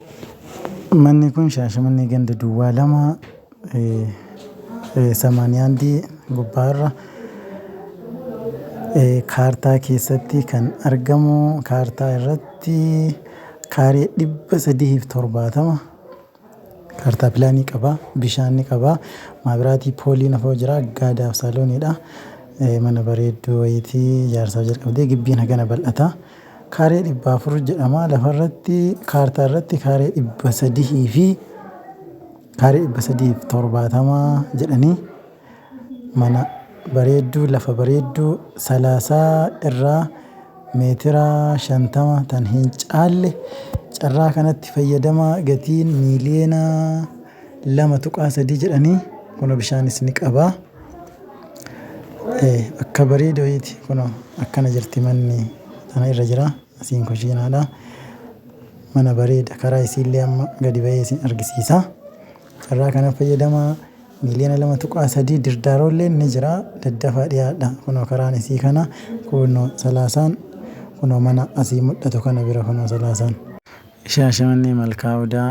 Manni kun Shaashamannee ganda duwwaa 2 81 gubbaa irra kaartaa keessatti kan argamu kaartaa irratti kaaree 370 kaartaa pilaanii qaba bishaan ni qaba maabiraatii pooliin afoo jira gaadaaf saalooniidha mana bareedduu wayitii ijaarsaa jalqabdee gibbiin hagana bal'ata. Kaaree 400 jedhama. Lafarratti kaartaarratti kaaree 300 fi kaaree 370 jedhanii mana bareedduu lafa bareedduu salaasaa irraa meetira 50 tan hin caalle carraa kanatti fayyadamaa gatiin miiliyoona 2.3 jedhanii kuno bishaanis ni qaba akka bareedoyiiti kuno akkana jirti manni tana irra jira asiin kushiinaadha mana bareeda karaa isiillee amma gadi ba'ee isin argisiisa carraa kana fayyadamaa miiliyoona 2.3 dirdaaroollee ni jira daddafaa dhiyaadha kuno karaan isii kana kuno salaasaan kuno mana asii mul'atu kana bira kuno salaasaan shaashamannee malkaa odaa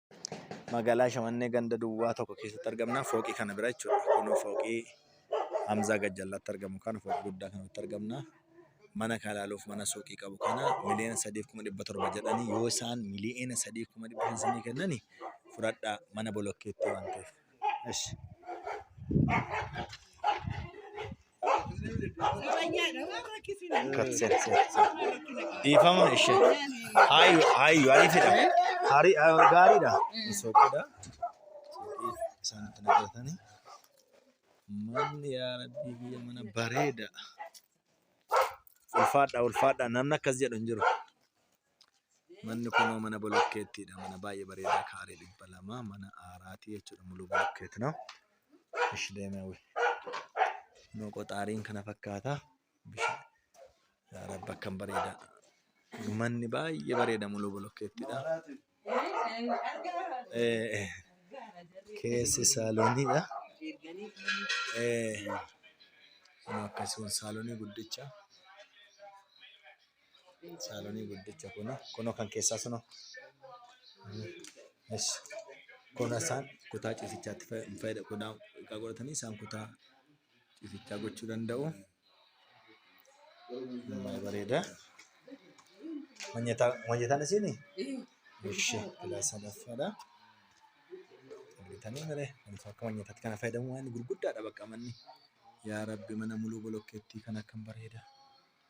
Magaalaa Shamannee ganda duwwaa tokko keessatti argamna. Fooqii kana bira jechuudha. Kunoo fooqii Hamzaa Gajjallaatti argamu kana fooqii guddaa kanatti argamna. Mana kana ilaaluuf mana suuqii qabu kana miliyoona sadiif kuma dhibba torba jedhanii yoo isaan miliyoona sadiif kuma dhibba shan isinii kennani fudhadhaa mana bolokkeetti waan ta'eef. Ishi. Dhiifama ishee. Haayu haayu ariifidha. Hari gaariidha. Soqidha. Isaan itti naqatanii. Manni yaa rabbii biyya mana bareeda. Ulfaadha ulfaadha namni akkas jedhu hin jiru. Manni kunoo mana bolokkeettiidha. Mana baay'ee bareedaa kaaree dhibba lama mana aaraati jechuudha. Muluu bolokkeet no. Ish deemee wayii. Kunoo qoxaariin kana fakkaata. Bishaan. Yaa Rabbi akkam bareeda. Manni baay'ee bareeda muluu bolokkeettiidha. Eh, eh. Keessi saalooniidha. Eh. Kunoo akkasumas saalonii guddicha. Saalonii guddicha kun kunoo kan keessaa sunoo. Yes. Kun isaan kutaa ciisichaatti fayyada kutaa xiqqaa godhatanii isaan kutaa ciisichaa gochuu danda'u. Baay'ee bareeda. Manyataa manyataan isiini? Ishi kilaa sadaffaadha. Argitanii malee wantoota akka manyataatti kana fayyadamu waan gurguddaadha bakka manni. Yaa Rabbi mana muluu bolokkeettii kan akkam bareeda.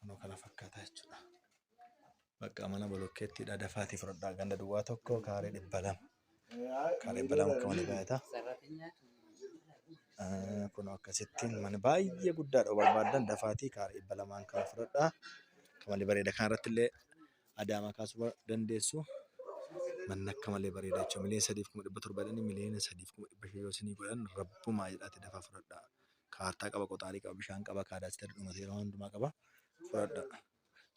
Kunoo kana fakkaata jechuudha. Bakka mana bolokkeetti dhadafaati fudhadhaa ganda duwwaa tokko kaaree dhibba lama. Kaaree dhibba lama akka malee baay'ata. Eh, Kunoo akkasittiin mana baay'ee guddaadha yoo barbaadan dafaatii kaaree dhibba lamaan kana fudhadhaa. Akka malee bareeda kana irratti illee adaamaa kaasuu ba- dandeessu. Manni akka malee bareeda jechuudha. Miliyoona sadiif kuma dhibba torba jedhanii miliyoona sadiif kuma dhibba shan yoo isinii godhan rabbumaa jedhaati dafaa fudhadhaa. kaartaa qaba, qoxaarii qaba, bishaan qaba, kaadaastera dhuma seera hundumaa qaba. Fudhadha.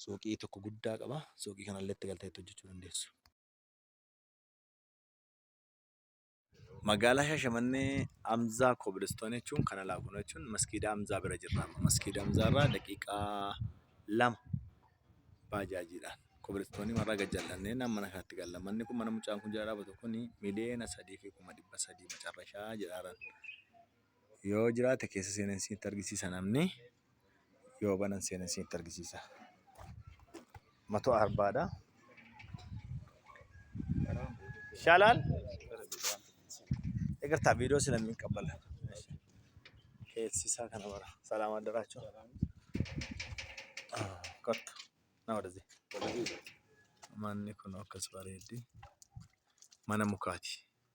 Suuqii tokko guddaa qaba. Suuqii kanallee itti galtee itti hojjechuu dandeessu. Magaalaa Shaashamannee Amzaa Kobilistoon jechuun kana laakuna jechuun maskiida Amzaa bira jirra. amma. Maskiida Amzaa irraa daqiiqaa lama baajaajiidhaan kobilistoonii marraa gad jal'annee naan mana kanatti galla. Manni kun mana mucaan kun jala dhaabatu kun miliyoona sadii fi kuma dhibba sadii macarrashaa jedhaaran. Yoo jiraate keessa seenan isinitti argisiisa namni. Yoo banan seenan isinitti argisiisa. Matoo arbaadha. Shalaal. Egartaa viidiyoo sila min qabbala. Keessisaa kana bara. Salaam addaraachuu. Kotta. Na wadazee. Manni kun akkas bareeddi. Mana mukaati.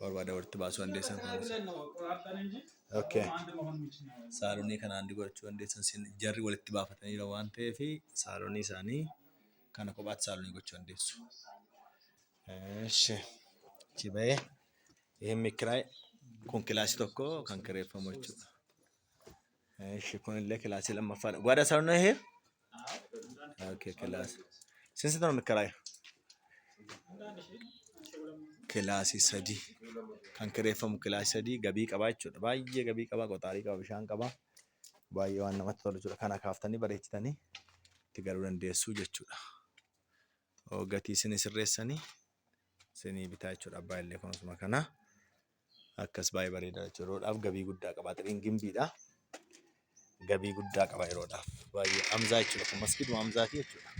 barbaada walitti baasuu dandeessan. Okay. Saalonii kana handi godhachuu dandeessan sin jarri walitti baafatanii jira waan ta'eef saalonii isaanii kana kophaatti saalonii gochuu dandeessu. Eshi. Achi ba'ee ይህም ክራይ kun kilaasii tokko kan kireeffamu jechuudha. Eshi kunillee kilaasii lammaffaadha. Gwada sarno hee? Okay, kilaasii. Sinsi tana mikkaraaya? Kilaasii sadii. Kan kireeffamu kilaasii sadii gabii qabaa jechuudha. Baay'ee gabii qabaa, qoxaarii qaba, bishaan qaba. Baay'ee waan namatti tolu jechuudha. Kana kaaftanii bareechitanii itti galuu dandeessuu jechuudha. Oo, Gatii isinii sirreessanii isinii bitaa jechuudha. Abbaa illee kunuunsuma kana. Akkas baay'ee bareeda jechuudha. Yeroodhaaf gabii guddaa qaba. Axiriin gimbiidha. Gabii guddaa qaba yeroodhaaf. Baay'ee Hamzaa jechuudha. Kun maskiiduma Hamzaati jechuudha.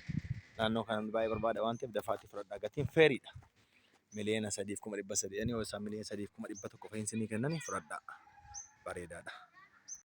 Naannoo kanatti baay'ee barbaada waan ta'eef dafaatti fudhadhaa. Gatiin feeriidha. Miliyoona sadiif kuma dhibba sadii. Ani hoo isaan miliyoona sadiif kuma dhibba tokko fa'iin isinii kennanii fudhadhaa. Bareedaadha.